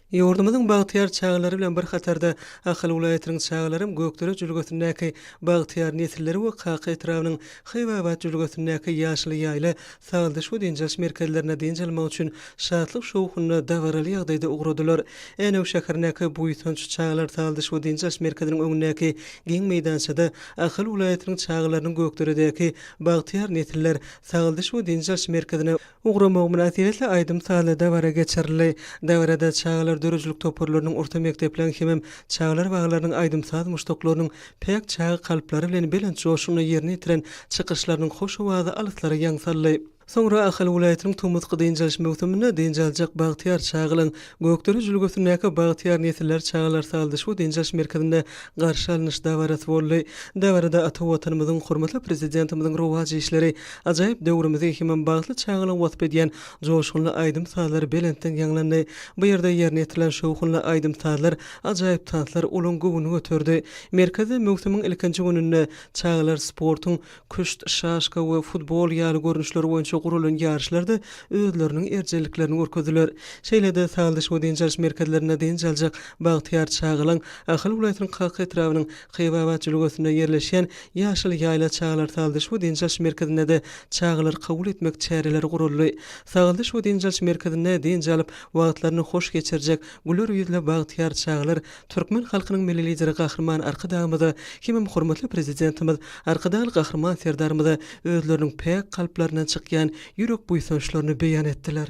Ýurdumyzyň bagtyýar çagalary bilen bir hatarda, Ahal welaýatynyň çagalaram Gökdere jülgesindäki Bagtyýar nesilleri we Kaka etrabynyň Haýbabat jülgesindäki Ýaşyl ýaýla sagaldyş we dynç alyş merkezlerine dynç almak üçin şatlyk-şowhunly, dabaraly ýagdaýda ugradylar. Änew şäherindäki Buýsanç çagalar sagaldyş we dynç alyş merkeziniň öňündäki giň meýdançada Ahal welaýatynyň çagalarynyň Gökderedäki Bagtyýar nesiller sagaldyş we dynç alyş merkezine Ugrama mynasybetli aýdym-sazly dabara geçirildi. Dabarada çagalar döredijilik toparlarynyň, orta mekdepleriň hemem çagalar baglarynyň aýdym-saz muşdaklarynyň päk çaga kalplary bilen belent joşgunly ýerine ýetiren çykyşlarynyň hoş owazy alyslara ýaň saldy. Soňra Ahal welaýatynyň tomusky dynç alyş möwsüminde dynç aljak bagtyýar çagalaň Gökdere jülgesindäki Bagtyýar nesiller çagalar saldyş we dynç alyş merkezinde garşy alnyş dabarasy boldy. Dabarada ata Watanymyzyň, hormatly Prezidentimiziň rowaç işleri, ajaýyp döwrümizi hemem bagtly çagalygy wasp edýän joşgunly aýdym-sazlar belentden ýaňlandy. Bu ýerde ýerine ýetirilen şowhunly aýdym-sazlar, ajaýyp tanslar olaň göwnüni göterdi. Merkezde möwsümiň ilkinji gününde çagalar sportuň küşt, şaşka we futbol ýaly görnüşler boýunça guralan ýaryşlarda özleriniň erjelliklerini görkezdiler. Şeýle-de saldyş we dynç alyş merkezlerinde dynç aljak bagtyýar çagalaň Ahal welaýatynyň Kaka etrabynyň Kybabat jülgesinde ýerleşýän Ýaşyl ýaýla çagalar saldyş we dynç alyş merkezindede çagalar kabul etmek çäreleri guraldy. Saldyş we dynç alyş merkezinde dynç alyp wagtlaryny hoş geçirjek güler ýüzli bagtyýar çagalar Türkmen halkynyň Milli Lideri Gahryman Arkadagymyza hemem hormatly Prezidentimiz Arkadagly Gahryman Serdarymyza özleriniň päk kalplaryndan çykýan ýürek buýsançlaryny beýan etdiler.